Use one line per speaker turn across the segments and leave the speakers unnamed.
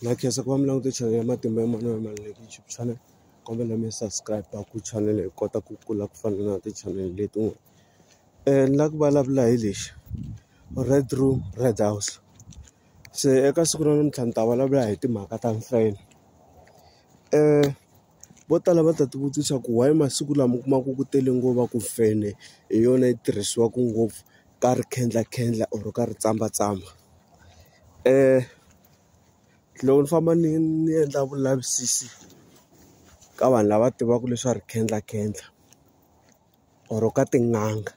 Na khensa ku va mi langute channel ya matimba ya manana ya mali leti YouTube channel kombela mi subscribe ku channel hi kota ku kula ku fana na ti channel letin'wana eh ni la ku vulavula hi lexi red room red house se eka siku ra namuntlha ni ta vulavula hi timhaka ta mfenhe eh. Vo tala va ta ti vutisa ku why masiku lama u kumaka ku tele ngopfu ku fene hi yona yi tirhisiwaka ngopfu ka ri khendla khendla or ka ri tsamba tsamba loko ni famba ni ni endla vulavisisi ka vanhu lava tivaka leswa ri khendla khendla. or ka tin'anga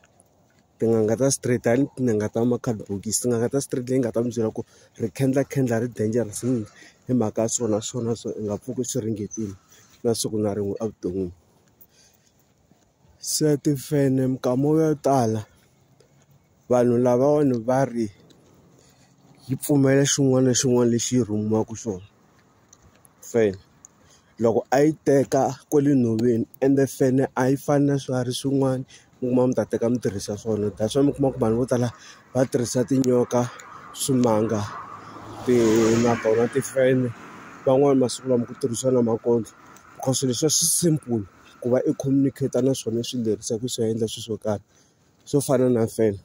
tin'anga ta straight a ni tin'anga ta ma-card bokisi tin'anga ta straight leyi nga ta mi byela ku ri khendla khendla ri dangerous swinene hi mhaka ya swona swona swo u nga pfuki swi ringetile na siku na rin'we evuton'wini se timfenhe minkama yo tala. Vanhu lavawani va ri yi pfumela xin'wana na xin'wana lexi yi rhumiwaka xona fene loko a yi teka kwale nhoveni ende fene a yi fani na swiharhi swin'wana mi kuma mi ta teka mi tirhisa swona that's why mi kuma ku vanhu vo tala va tirhisa tinyoka swimanga ti na tona timfenhe van'wani masiku lama ku tirhisiwa na makondlo cause leswiya swi simple ku va i communicate na swona i swi lerisa ku swi endla swilo swo karhi. swo fana na feni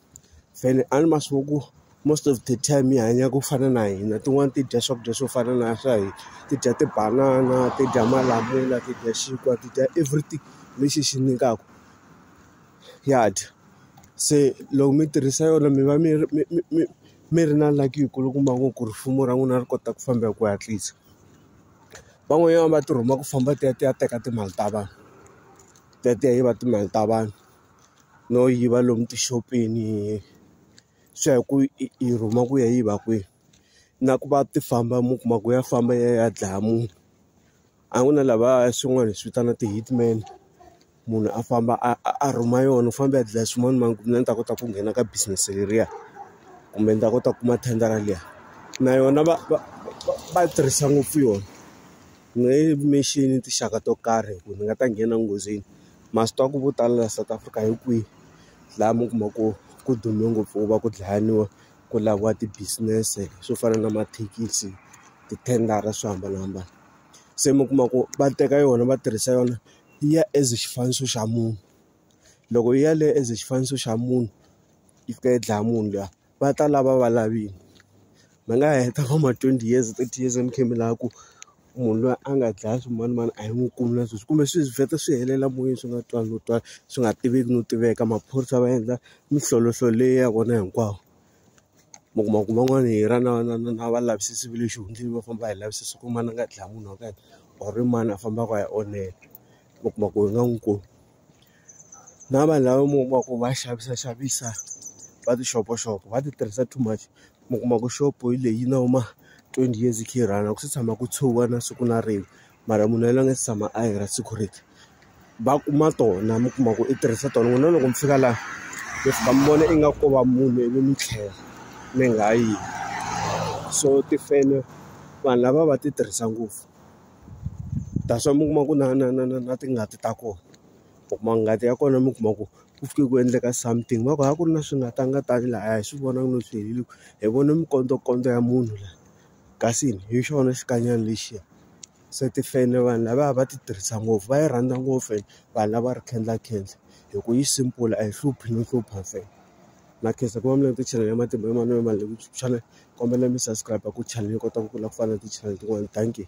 feni a ni ma swi ku most of the time yi hanya ku fana na hina tin'wani ti dya swakudya swo fana na swa hina ti dya tibanana ti dya malamula ti dya xinkwa ti dya everything lexi xi nyikaka ya dya se loko mi tirhisa yona mi va mi ri mi mi mi mi ri na lucky yi kulukumba ngopfu ku ri rifumo ra n'wina ri kota ku famba hi ku hatlisa van'wanyana va ti rhuma ku famba ti ya ti ya teka timali ta vanhu ti ya ti ya yiva timali ta vanhu. no yiva lomu tixopeni swi ya hi ku i rhuma ku ya yiva kwihi na ku va ti famba mi kuma ku ya famba yi ya yi ya dlaya munhu a ku na lava swin'wana hi swi vitana ti-hitman munhu a famba a a rhuma yona u famba u ya dlaya swin'wana mara mina ni ta kota ku nghena ka business leriya kumbe ni ta kota ku kuma thendara liya na yona va va va va yi tirhisa ngopfu yona ni nge yi mixini tinxaka to karhi hi ku ni nga ta nghena enghozini. Masitoko vo tala laha South Africa hi kwihi laha mi kuma ku ku dume ngopfu ku va ku dlayiwa ku laviwa ti business swo fana na mathekisi ti tender swo hambanahambana se mi kuma ku va teka yona va tirhisa yona yi ya as xifaniso xa munhu loko yi ya le as xifaniso xa munhu yi fika yi dlaya munhu luya. va ta lava va lavini mi nga heta vo ma twenty years thirty years mi kha mi lava ku munhu loyi a nga dlaya swimanimani a yi n'wi kumi na sweswi kumbe swi vheta swi helela moyeni swi nga twali no twala swi nga tiveki no tiveka maphorisa va endla mihlolohloho leyi ya vona hinkwawo mi kuma ku van'wana hi ra na na na na valavisisi va le xihundleni va famba hi lavisisa ku mani a nga dlaya munhu wa ka yena or i mani a fambaka a ya onhela mi kuma ku hi nga n'wi kumi. na vanhu lava mi kuma ku va xavisa xavisa va tixopoxopo va ti tirhisa too much mi kuma ku xopo hi leyi na huma twenty years yi kha yi rhanga ku se tshama ku tshuka na siku na rin'we mara munhu yaloye a nga se tshama a yi ra security va kuma tona mi kuma ku i tirhisa tona n'wina loko mi fika laha mi fika mi vona ingaku ko va munhu ivi mi tlhela mi nga yi so tifeme vanhu lava va ti tirhisa ngopfu. that's why mi kuma ku na na na na na tingati ta kona u kuma ngati ya kona mi kuma ku ku fike ku endleka something va ku a ku ri na swi nga tanga tani laha a hi swi vonangi no swi helo hi vone mikondzokondzo ya munhu la kasi hi xona xikanyana lexiya se tifene vanhu lava a va ti tirhisa ngopfu va yi rhandza ngopfu ene vanhu lava ri khendla khendla hi ku yi simple a yi hluphi no hlupha ntsena. na khensa ku va mi langute channel ya matimba ya manana mali ku channel kombela mi subscribe ku channel yi kota ku kula ku fana na ti-channel tin'wana dankie.